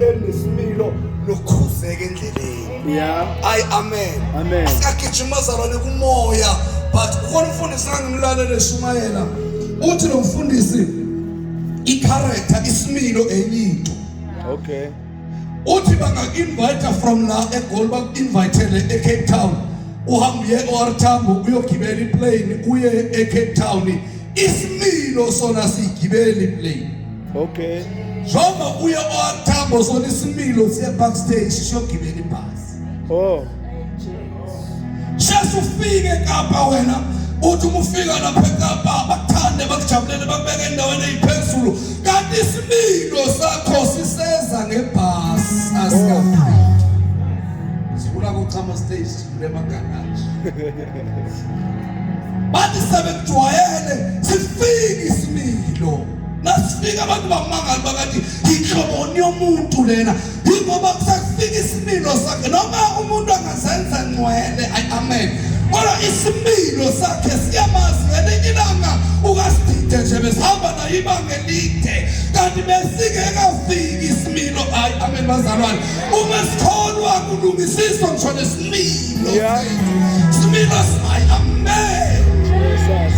elinesimilo nokhuzeka endleleni yeah ay amen amen asakijima zalwane kumoya but ukhona umfundisi angimlalele shumayela uthi lo mfundisi i-character isimilo enyinto okay uthi bangaku-invite from la egoli baku-invitele ecape town uhamba uye o-r tambo uyogibela iplane uye ecape town isimilo sona siyigibela iplane Okay. Njengoba uye owakuthamba uzona isimilo siye backstage siyogibela ibhasi. Oh. Shesa ufike Kapa wena uthi uma ufika lapha eKapa bakuthande bakujabulele bakubeke endaweni eyiphezulu kanti isimilo sakho siseza ngebhasi asikafiki. Sifuna kuchama stage sifuna emagaraji. Bathi sebekujwayele sifike isimilo. Nasifika abantu bamangala bakathi inhloboni yomuntu lena ingoba kusafika isimilo sakhe noma umuntu angazenza ngcwele amen kodwa isimilo sakhe siyamazi ngelinye ilanga ukasidide nje besihamba naye ibanga elide kanti besingekafiki isimilo ayi amen bazalwane uma sikholwa kulungisiswa ngisho nesimilo similo simayi amen Jesus.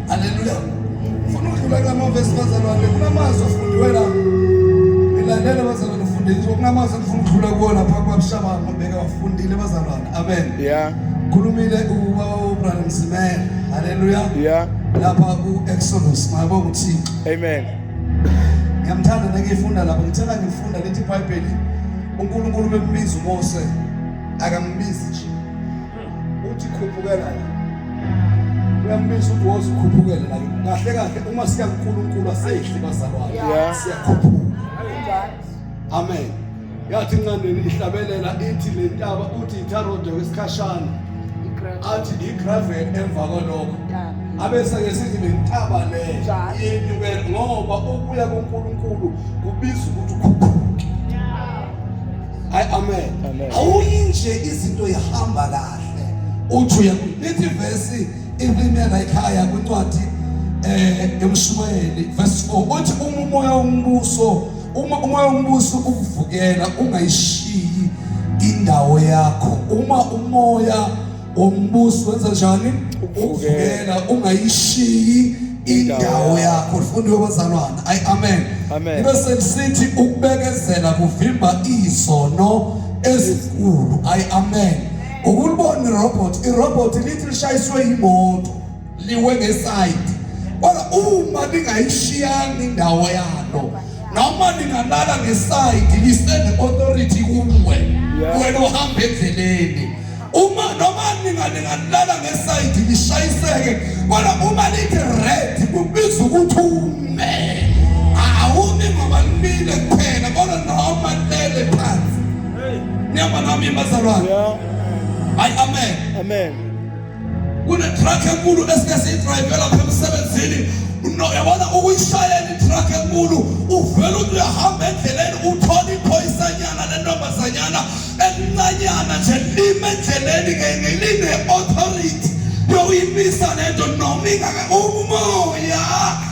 Haleluya. Funa ukudlula kula mavesi bazalwane kunamazwi afundiwe la. Ngilandele bazalwane ufundile ukuthi kunamazwi engifuna ukudlula kuwona phambi kwabishaba ngobheka wafundile bazalwane. Amen. Yeah. Khulumile uba uBrother Msimela. Haleluya. Yeah. Lapha ku Exodus mayabonga uThixo. Amen. Ngiyamthanda nengifunda lapha ngithanda ngifunda lethi iBhayibheli uNkulunkulu bembiza uMose akambizi nje uthi khuphukela la uyambisa ukuthi wozikhuphukela la kahle kahle uma siya kuNkulunkulu asehli bazalwane siyakhuphuka amen yathi incandeni ihlabelela ithi le ntaba uthi itharode wesikhashana athi igravel emva kwalokho abesake sithi le ntaba le yenyukela ngoba ukuya kuNkulunkulu kubiza ukuthi ukhuphuke Hayi amen. Awuyi nje izinto ihamba kahle. Uthi uya lithi verse impimela ekhaya kwincwadi eh emshumayeli verse 4 uthi uma umoya wombuso uma umoya wombuso ukuvukela ungayishiyi indawo yakho uma umoya umbuso wenza njani uvukela ungayishiyi indawo yakho lifundiwe bazalwana ayi amen ibe selisithi ukubekezela kuvimba izono ezinkulu ayi amen ukulibona irobot irobot lithi lishayiswe yimoto liwe ngeside kodwa uma ningayishiyanga indawo yalo noma ningalala ngeside lisende authority kuwe wena uhamba endleleni uma noma ningalala ngeside lishayiseke kodwa uma lithi red kubiza ukuthi ume awumi ngoba limile kuphela kodwa noma lele phansi niyabona nami bazalwane hayi amen amen kunetruck enkulu esike siyidrayive lapha emsebenzini yabona ukuyishayela itruck enkulu uvele uthi uyahamba endleleni uthola iphoyisanyana lentombazanyana elincanyana nje lime endleleni ngeline-authority yokuyimisa lento noma ingaka umoya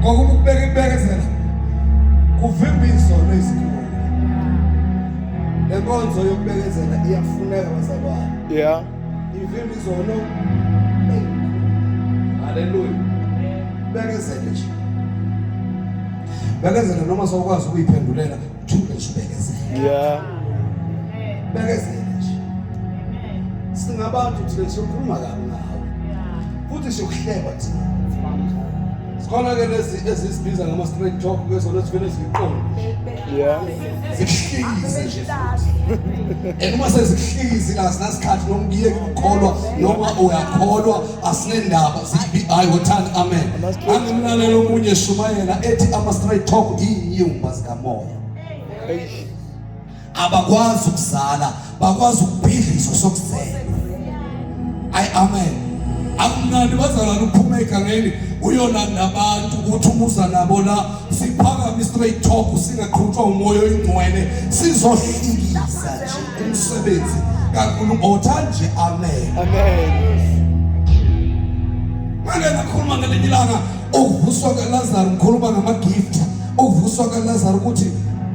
ngokuba ukubeka imbekezela kuvimba izono ezikhulu le nkonzo yokubekezela iyafuneka bazalwane yeah ivimba izono haleluya bekezele nje bekezele noma sokwazi ukuyiphendulela Thule nje bekezela. Yeah. Bekezela nje. Amen. Singabantu thina siyokhuluma kabi ngawe. Yeah. Futhi siyokuhleba thina. Sikhona ke lezi ezisibiza ngama straight talk bezona sivele ziqonde. Yeah. Zihlikize nje. Enuma sezihlikize la sinasikhathi noma uyiye ukholwa noma uyakholwa asinendaba sibi ayi wothanda amen. Angimlalela omunye shumayela ethi ama straight talk iyinyumba. moya abakwazi ukuzala bakwazi ukubhidliso sokuzela ayi amen akunani bazalwane uphuma egangeni uyolanda abantu ukuthi umuza nabo la siphakame straight talk singaqhutshwa umoya oyingcwele sizohlikisa nje umsebenzi kaNkulunkulu otha nje amen amen manje nakhuluma ngelinye ilanga Ukuvuswa kaLazaro ngikhuluma ngamagift. Ukuvuswa kaLazaro ukuthi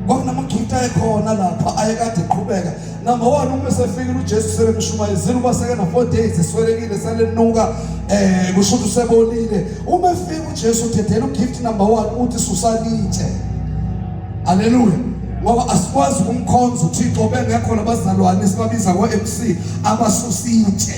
kwakunamagift ayekhona lapha ayekade eqhubeka number one uma esefikile ujesu sebemshumayezile uba sekena four days eswelekile selenuka um kusho ukuthi usebolile uma efika ujesu uthethela ugift number one uthi susalitshe aleluya ngoba asikwazi ukumkhonza uThixo bengekho labazalwane sibabiza ko-MC abasusitshe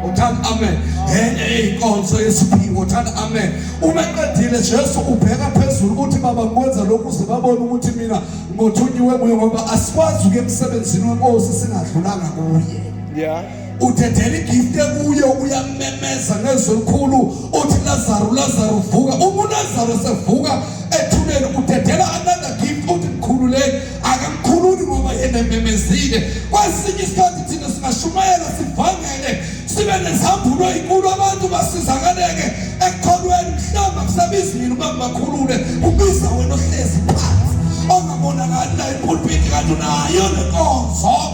uthanda amen enye eyinkonzo yesiphiwo uthanda amen uma eqedile Jesu ubheka phezulu ukuthi baba ngikwenza lokhu uze babone ukuthi mina ngothunyiwe kuye ngoba asikwazi ukuya emsebenzini wenkosi singadlulanga kuye yeah uthethela igift ekuye uyamemeza ngezwi elikhulu uthi Lazaro Lazaro vuka uma uLazaro sevuka ethuneni uthethela another gift uthi mkhululeni akamkhululi ngoba yena ememezile kwesinye isikhathi thina singashumayela sivangele sibe nezambulo ezinkulu abantu basizakaleke ekukholweni mhlawumbe kusebizi mina ukuba ngibakhulule kubiza wena ohlezi phansi ongabonakali la ipulpiti kanti unayo nenkonzo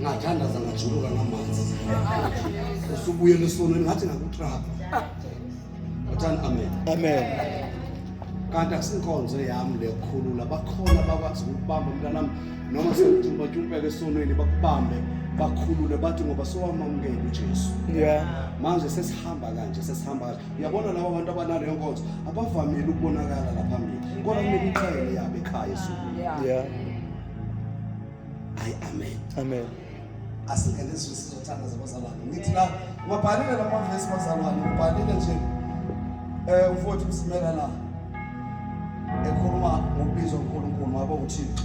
ngathandaza ngajuluka ngamanzi usubuyela esonweni ngathi ngakutrapa ngathani amen amen kanti akusinkonzo yami leyokhulula bakhona bakwazi ukubamba mntanami noma sekujumpajumpheke esonweni bakubambe bakhulule bathi ngoba sowamamukele uJesu yeah manje sesihamba kanje sesihamba kanje uyabona laba bantu abanale nkonzo abavamile ukubonakala la phambili kodwa kumele iqhele yabe ekhaya esuku yeah Ay amen. Amen. Asingene sizwe sizothanda zabazalwane. Ngithi la ubabhalile la mavesi bazalwane, ubhalile nje eh umfowethu usimela la. Ekhuluma ngokubiza uNkulunkulu wabo uThixo.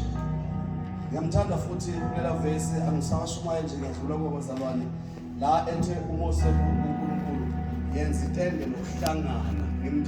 Ngiyamthanda futhi kulela vesi angisawashumaye nje ngiyadlula kwabazalwane. La ethe umose uNkulunkulu yenza itende lokuhlangana. Ngimthanda